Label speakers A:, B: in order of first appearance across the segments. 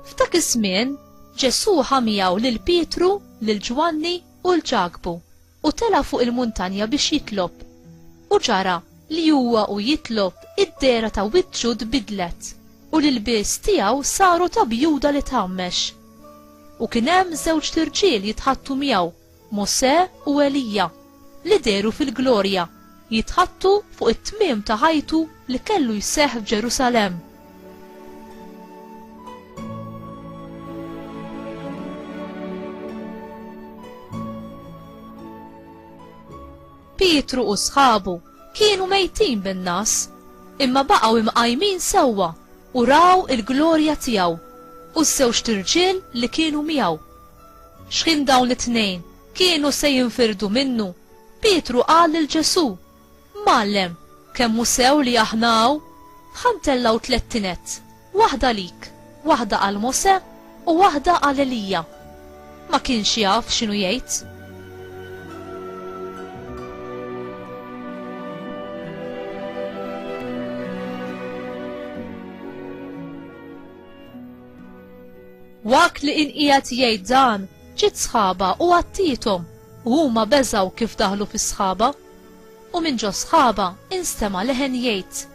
A: F'dak iż-żmien, Ġesù ħamijaw lil Pietru, lil Ġwanni u l-Ġakbu U tela' fuq il-muntanja biex jitlob. U ġara li huwa u jitlob id-dehra ta' wiċċu tbiddlet, u l-ilbies tiegħu saru ta' bjuda li tgħammex. U kien hemm żewġt irġiel jitħaddtu miegħu, Mosè u Elija, li dehru fil-glorja jitħattu fuq it-tmiem ta' ħajtu li kellu jseħħ f'Ġerusalemm. Pietru u sħabu kienu mejtin bin-nas, imma baqgħu imqajmin sewwa u raw il-glorja tiegħu u s-sewx tirġiel li kienu miegħu. X'ħin dawn it-tnejn kienu se jinfirdu minnu Pietru qal lil Ġesù, Mgħallem, kemm hu sew li aħna hawn ħamtella u tlett tined, waħda għalik, waħda għal Mosè u waħda għal Elija. Ma kienx jaf x'inhu jgħid. Waqt li inqiegħed jgħid dan, Ġiet sħaba u għattiethom, u huma beżgħu kif daħlu fis-sħaba. U minn ġo sħaba instema' leħen jgħid,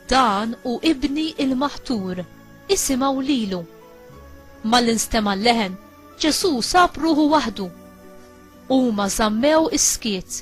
A: Dan hu Ibni il-Maħtur, isimgħu lilu. Malli nstema' l-leħen, Ġesù sab ruħu waħdu. Huma żammew is-skiet.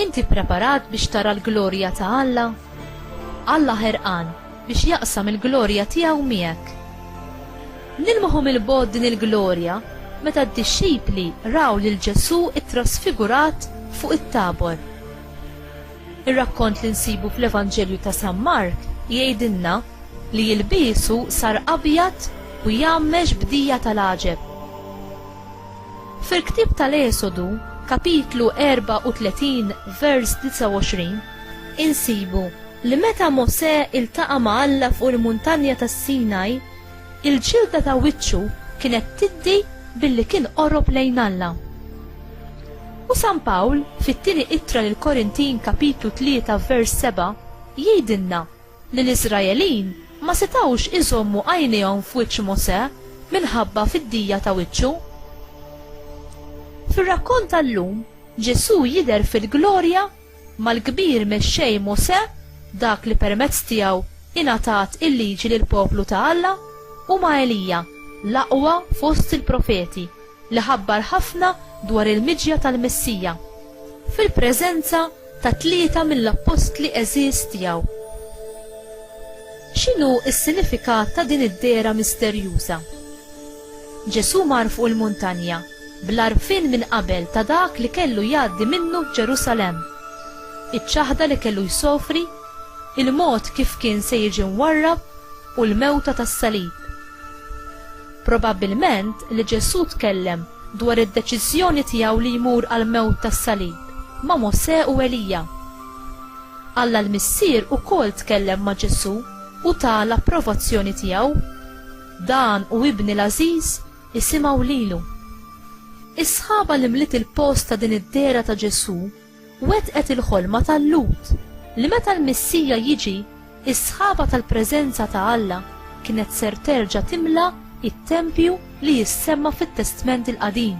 A: Inti ppreparat biex tara l-glorja ta' Alla? Alla ħerqan biex jaqsam il-glorja tiegħu miegħek. Nilmħu mill-bogħod din il-glorja meta d-dixxipli raw lil Ġesù ttrasfigurat fuq it-Tabor. Ir-rakkont li nsibu fl-Evanġelju ta' San Mark jgħidilna li jilbiesu sar abjad u jgħammex b'dija tal-għaġeb. Fil-ktieb tal-Esodu, kapitlu 34, vers 29, insibu li meta Mosè iltaqa' ma' Alla fuq il-Muntanja tas-Sinaj, il-ġilda ta' wiċċu kienet tiddi billi kien qorob lejn Alla. U San Pawl, fit-Tieni Ittra lill-Korintin kapitlu 3 vers 7, jgħidilna li l-Iżraelin ma setgħux iżommu għajnejhom f'wiċċ Mosè minħabba fiddija ta' wiċċu. Fir-rakkont tal-lum, Ġesù jidher fil-glorja mal-kbir mexxej Mosè, dak li permezz tiegħu ingħatat il-Liġi lill-poplu ta' Alla, u ma' Elija, l-aqwa fost il-profeti. li ħabbar ħafna dwar il-miġja tal-Messija, fil-preżenza ta' tlieta mill-appostli għeżież tiegħu. X'inhu s-sinifikat ta' din id-dehra misterjuża? Ġesù mar fuq il-muntanja bl-għarfien minn qabel ta' dak li kellu jgħaddi minnu f'Ġerusalemm, iċ-ċaħda li kellu jsofri, il-mod kif kien se jiġi mwarrab u l-mewta tas-salib. Probabbilment li Ġesù tkellem dwar id-deċiżjoni tiegħu li jmur għall-mewt tas-salib ma' Mosè u Elija. Alla l-Missier ukoll tkellem ma' Ġesù u ta l-approvazzjoni tiegħu, Dan hu Ibni l-għażiż, isimgħu lilu. Is-sħaba li mliet il-post ta' din id-dehra ta' Ġesù wettqet il-ħolma ta' Lut li meta l-Missija jiġi, is-sħaba tal-preżenza ta' Alla kienet ser terġa' timla t-tempju li jissemma fit-Testment il-Qadim.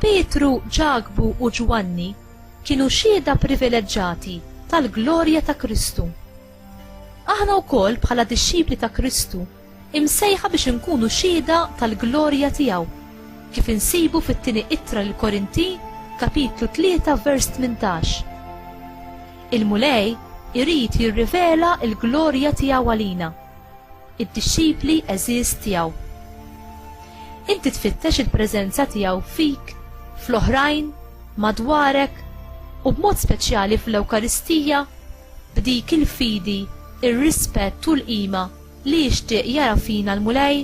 A: Pietru, Ġakbu u Ġwanni kienu xhieda privileġġati tal-glorja ta' Kristu. Aħna wkoll bħala dixxipli ta' Kristu imsejħa biex inkunu xhieda tal-glorja tiegħu, kif insibu fit-tieni ittra lil Korintin, kapitlu 3 vers 18. Il-Mulej irid jirrivela l-glorja tiegħu għalina, id-dixxipli għeżież tiegħu. Inti tfittex il-preżenza tiegħu fik, fl-oħrajn, madwarek, u b'mod speċjali fl-Ewkaristija b'dik il-fidi, ir-rispett u l-qima li jixtieq jara fina l-Mulej?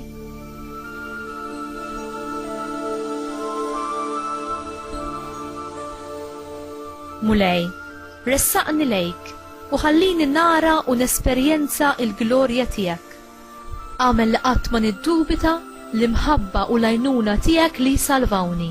A: Mulej, ressaqni lejk u ħallini nara u nesperjenza l-glorja tiegħek. Agħmel li qatt ma niddubita l-imħabba u l-għajnuna tiegħek li jsalvawni.